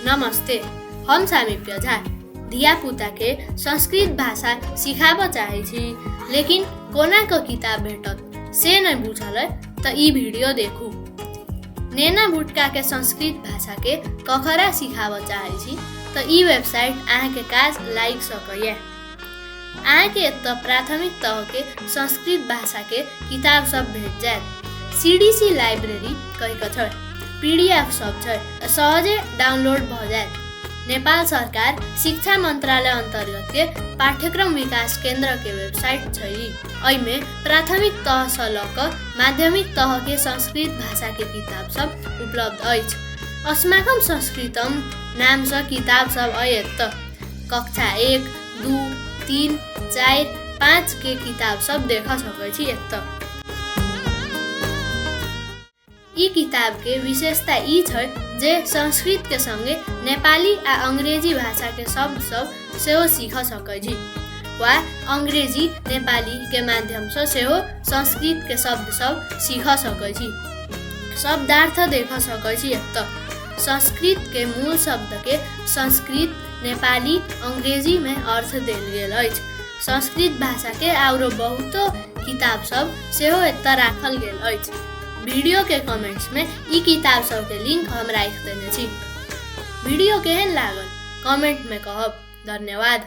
नमस्ते हम सामिप्य झा धियापुताके संस्कृत भाषा सिखाबऽ चाहै छी लेकिन कोनाके किताब भेटत से नहि बुझल अइ तऽ ई वीडियो देखू नेना भुटकाके संस्कृत भाषाके ककरा सिखाबऽ चाहै छी तऽ ई वेबसाइट अहाँके काज लागि सकैए अहाँके एतऽ प्राथमिक तहके संस्कृत भाषाके किताब सब भेट जायत सीडीसी लाइब्रेरी कहि कथर पीडीएफ सब छै सहजे डाउनलोड भऽ जायत नेपाल सरकार शिक्षा मन्त्रालय अन्तर्गत के पाठ्यक्रम विकास केन्द्र के वेबसाइट छै एहिमे प्राथमिक तह से लऽ कऽ माध्यमिक तह के संस्कृत भाषा के किताब सब उपलब्ध अछि अस्माकम संस्कृतम नाम से किताब सब अयत कक्षा एक दू तीन चारि पाँच के किताब सब देख सकै छी एतऽ ई किताब के विशेषता ई छै जे संस्कृत के संगे नेपाली आ अंग्रेजी भाषा के शब्द सब सेहो सीख सकै छी वा अंग्रेजी नेपाली के माध्यम से सेहो संस्कृत के शब्द सब सीख सकै छी शब्दार्थ देख सकै छी एतऽ संस्कृत के मूल शब्द के संस्कृत नेपाली अंग्रेजी में अर्थ देल गेल अछि संस्कृत भाषा के आउरो बहुतो किताब सब सेहो एतऽ राखल गेल अछि वीडियो के कमेंट्स में ई किताब सब के लिंक हम राखि देने छी वीडियो केहन लागल कमेंट में कहब धन्यवाद